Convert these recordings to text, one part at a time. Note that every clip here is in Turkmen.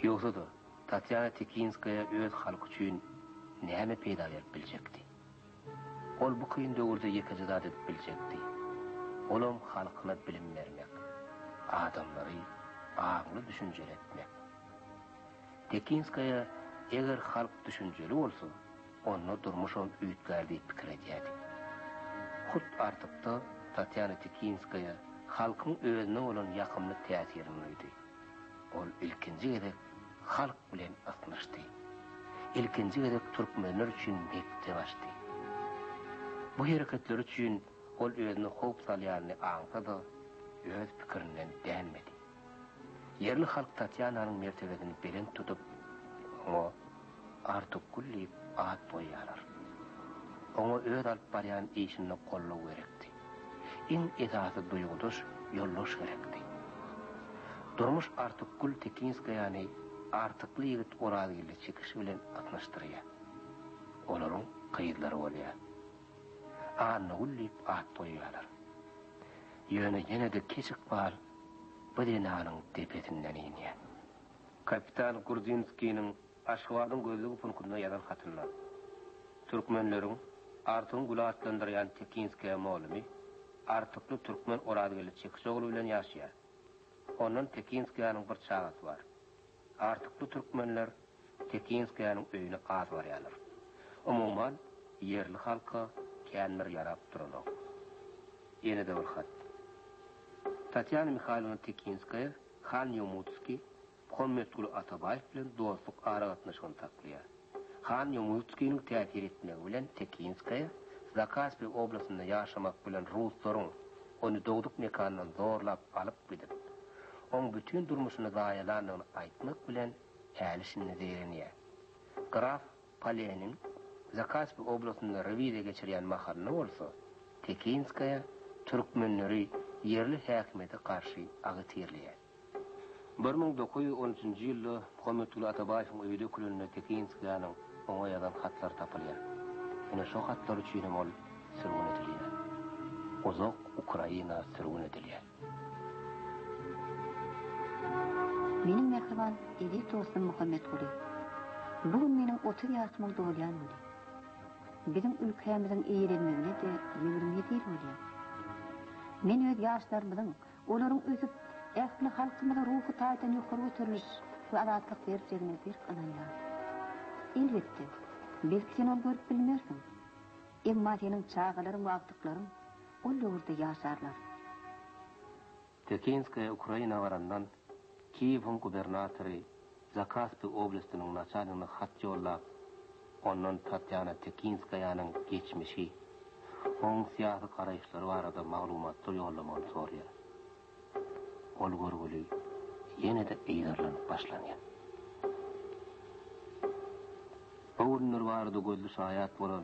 Ýogsa-da, Tatýana Tekinskaýa öz halky üçin näme peýda berip biljekdi? Ol bu kyn döwürde ýekeje zat edip biljekdi, olam halkyna bilim bermek, adamlary aňly düşünjeli etmek. Tekinskaýa eger halk düşünjeli bolsa, Onda durmuşam üýtgär diýip pikir edýärdik. Hut Artykda Tatýana Tikinskaýa halkyň özüne bolan ýakymly täsirini duýdy. Ol ilkinji gezek halk bilen ysnyşdy. Ilkinji gezek türkmenler üçin mekdep açdy. Bu hereketleri üçin ol özüne howp salýanyny aňsa-da, öz pikirinden dänmedi. Ýerli halk Tatýananyň mertebesini belent tutup, oňa Artukgül diýip at goýýarlar. Oňa öz alyp barýan işinde goldaw gerekdi. Iň esasy duýgudaş ýoldaş gerekdi. Durmuş Artukgül Tekinskaýany Artykly ýigit Orazgeldi Çekiş bilen ysnyşdyrýar. Olaryň gyzlary bolýar. Annagül diýip at goýýarlar. Ýöne ýene-de Keç ykbal bu zenanyň depesinden inýär. Kapitan Gurdinskiniň Aşgabadyň gözlügi punkunda ýazan hatynda, Türkmenleriň Artygyň güli atlandyrýan Tekinskaýa molumy, artykly türkmen Orazgeldi Çekiçogly bilen ýaşaýar. Ondan Tekinskaýanyň bir çagasy bar. Artyk bu türkmenler Tekinskaýanyň öýüne az barýarlar. Umuman, ýerli halka kän bir ýarap duranok. Ýene-de bir hat. Tatýana Mihaýlowna Tekinskaýa han Ýomutskiý Muhammetguly Atabaýew bilen dostluk aragatnaşygyny saklaýar. Han Ýomutskiniň täsir etmegi bilen Tekinskaýa, Zakaspi oblastynda ýaşamak bilen ruslaryň ony dogduk mekanyndan zorlap alyp gidip, oň bütin durmuşyny zaýalandygyny aýtmak bilen häli-şindi zeýrenýär. Graf Poleniň Zakaspi oblastynda rewiziýa geçirýän mahalynda bolsa, Tekinskaýa türkmenleri ýerli häkimiýete garşy agitirleýär. Bir müň dokuz ýüz on üçünji ýylda Muhammetguly Atabaýewiň öýi dökülende Tekinskiýanyň oňa ýazan hatlary tapylýar. Ine şo hatlar üçin hem ol sürgün edilýär. Uzak Ukraina sürgün edilýär. Meniň mähriban eziz dostum Muhammetguly! Bu gün meniň otuz ýaşymyň dolýan güni. Biziň ülkämiziň eýlenmegine-de ýigrimi ýedi ýyl bolýar. Men öz ýaşlarymyzyň Olaryň ösüp, ähli halkymyza ruhy taýdan ýokary göteriliş we azatlyk berjegine berk ynanýaryn. Elbetde, belki sen ony görüp bilmersiň. Emma seniň çagalaryň we agtyklaryň ol döwürde ýaşarlar. Tekinskaýa Ukraina barandan Kiýewiň gubernatory Zakaspi oblastiniň naçalnigine hat ýollap, ondan Tatýana Tekinskaýanyň geçmişi, oň syýasy garaýyşlary barada maglumatlar ýollamagyny soraýar. Ol görgüli ýene-de yzarlanyp başlanýar. Bu günler barada gözli şaýat bolan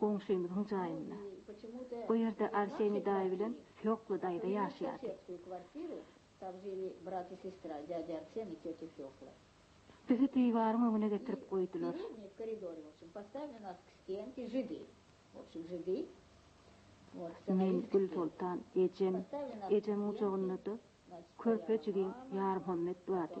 Goňşymyzyň jaýynda. O ýerde Arseniý daýy bilen Fýokla daýza ýaşaýardy. Bizi diwaryň öňüne getirip goýdular. Men, Gülsoltan, ejem, ejemiň gujagynda-da körpe jigim Ýarmuhammet bardy.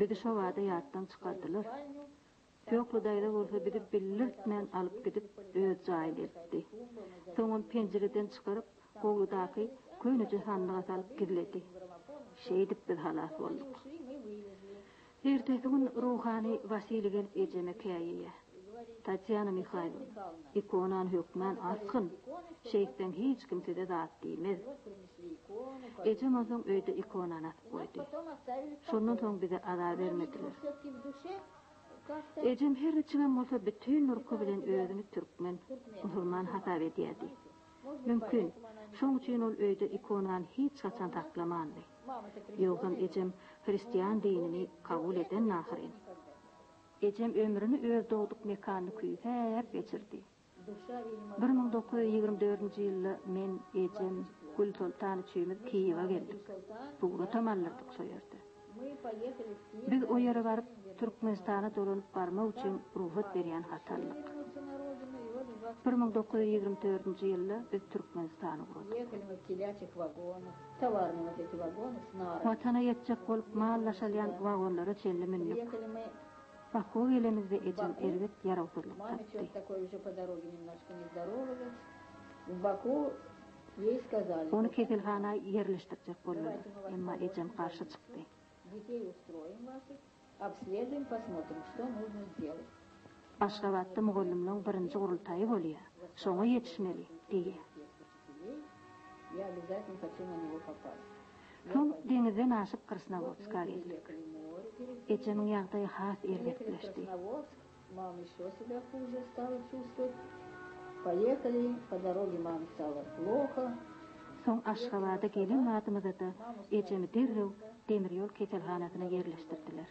Bizi şo bada ýatdan çykardylar. Söhli daýza bolsa bizi bildirtmän alyp gidip öz jaýyna eltdi. Soňam penjireden çykaryp howludaky köneje sandyga salyp gizledi. Şeýdip biz halas bolduk. Ertesi gün ruhany Wasili gelip ejeme käýýä. Tatýana Mihaýlowna, ikonany hökmän asgyn, şeýtseň hiç kim size zat diýmez. Ejem onsoň öýde ikonany asyp goýdy. Şondan soň bize azar bermediler. Ejem her niçigem bolsa bütin durky bilen özüni türkmen, musulman hasap edýärdi. Mümkin, şoň üçin ol öýde ikonany hiç haçan saklamandy. Ýogsam ejem hristian dinini kabul edendi ahyryn. Ejem ömrüni öz dogduk mekanyny küýsäp geçirdi. Bir müň dokuz ýüz ýigrimi dördünji ýylda men, ejem, Gülsoltan üçimiz Kiýewe geldik. Suratam aldyrdyk şo ýerde. Biz o ýere baryp, Türkmenistana dolanyp barmak üçin rugsat berýän haty aldyk. Bir müň dokuz ýüz ýigrimi dördünji ýylda biz Türkmenistany gurdup. Watana ýetjek bolup mal daşalýan wagonlara çenli mündük. Bakuwa gelenimizde ejem erbet ýarawsyzlyk tapdy. Ony keselhana ýerleşdirjek boldular. Emma ejem garşy çykdy. Aşgabatda mugallymlaryň birinji gurultaýy bolýar. Şoňa ýetişmeli, diýýär. Soň deňizden aşyp Krasnowodska geldik. Ejemiň ýagdaýy has erbetleşdi. Soň Aşgabada gelen badymyzada ejemi derrew demirýol keselhanasyna ýerleşdirdiler.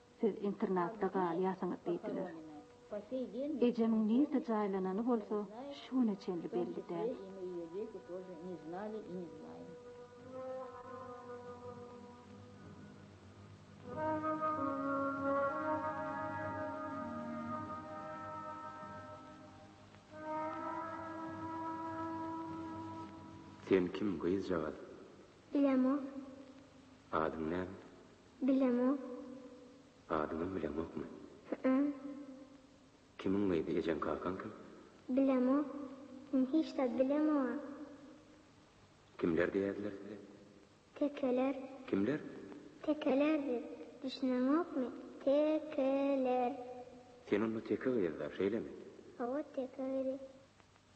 Siz internatda galýarsyňyz diýdiler. Ejemiň nirde jaýlanany bolsa şu güne çenli belli däl. Sen kim gyzjagaz? Bilemok. Adyň näme? Bilemok. Adyňam bileňokmy? Hü-ä. Kimiň gyzy, ejeň-kakaň kim? Bilemok. Men hiç zat bilemok-a. Kimler diýerdiler size? Tekeler. Kimler? Tekeler diýip, düşüneňokmy? Tekeler. Sen onda teke gyz-da, şeýlemi? Hawa, teke gyzy.